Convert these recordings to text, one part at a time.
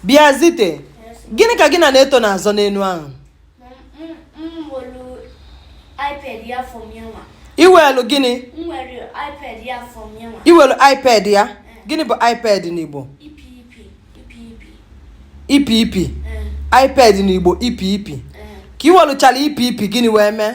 bịa zite gịnị ka gị na naeto na-azọ n'enu ahụ i welu gịnị i welu ipad ya eh. gịnị bụ ipad n'igbo ipi ipi ipad n'igbo ipi ipi ka i weluchara ipi ipi gịnị wee mee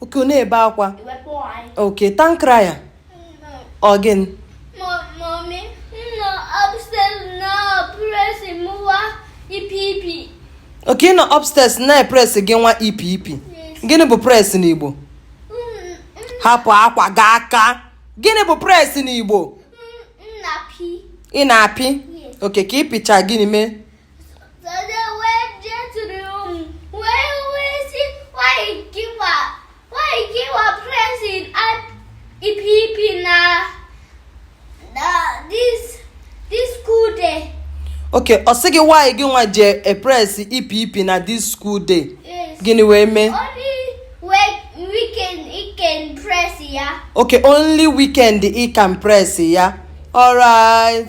okay ọ na-ebe akwa okay tankra ya ọ gịnị okay ị nọ upstairs na-epress gị nwa ipi ipi gịnị bụ press n'igbo hapụ akwa gị aka gịnị bụ press n'igbo ị na-apị okay ka ị pịcha gịnị mee okay ọ sị gị why gị nwa ji epress ipi ipi na this school day gịnị wee mee okay only weekend ị can press ya alright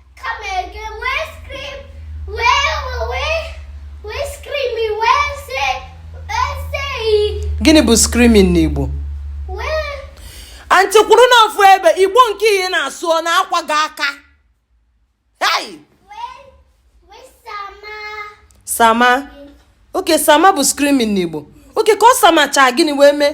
gịnị bụ screaming n'igbo antị kwụrụ n'ofu ebe igbo nke ihe na-asụ ọ na-akwa gị aka sama okay sama bụ screaming n'igbo okay ka ọ samachaa gịnị wee mee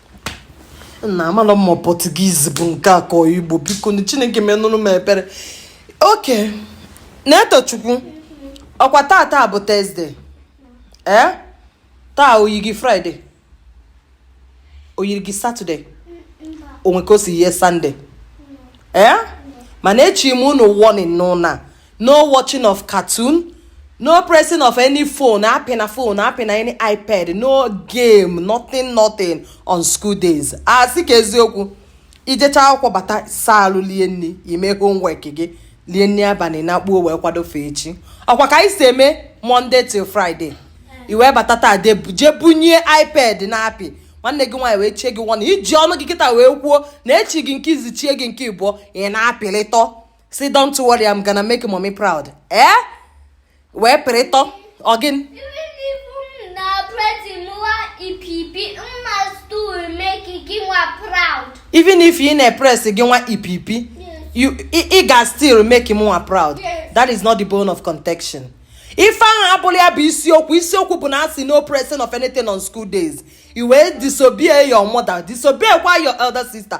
na amarọ m ma portuguese bụ nke a ka igbo biko na chineke menụrụ m ebere okay naetochukwu ọkwa taa taa bụ thursday ee eh? taa o yi gị friday o yiri gị saturday o nwe ka o si yie sunday ee eh? mana echie m unu warning n'ụnọ a no watching of cartoon no pressing of any phone apịna phone apịna any ipad no game nothing nothing on school days asị ka eziokwu i jecha akwụkwọ bata saa ahụ lie nri i mee homework gị lie nri abalị nakpuo wee kwado ife echi ọkwa ka anyị si eme monday till friday i wee bata taa jee bunie ipad na-apị nwanne gị nwaanyị wee chie gị warning i ji ọnụ gị kịta wee kwuo na e chi gị nke izizi chie gị nke ịbụọ ị na-apịlịtọ sị don't worry I'm gonna make mommy proud ee eh? wee pịrịtọ okay even if ị na-epress gị nwa ipi ipi ị ga still make m nwa proud that is not the bone of contention ife ahụ abụrọ ya bụ isiokwu isiokwu bụ na a sị no pressing of anything on school days i wee disobey your mother disobey kwa your elder sister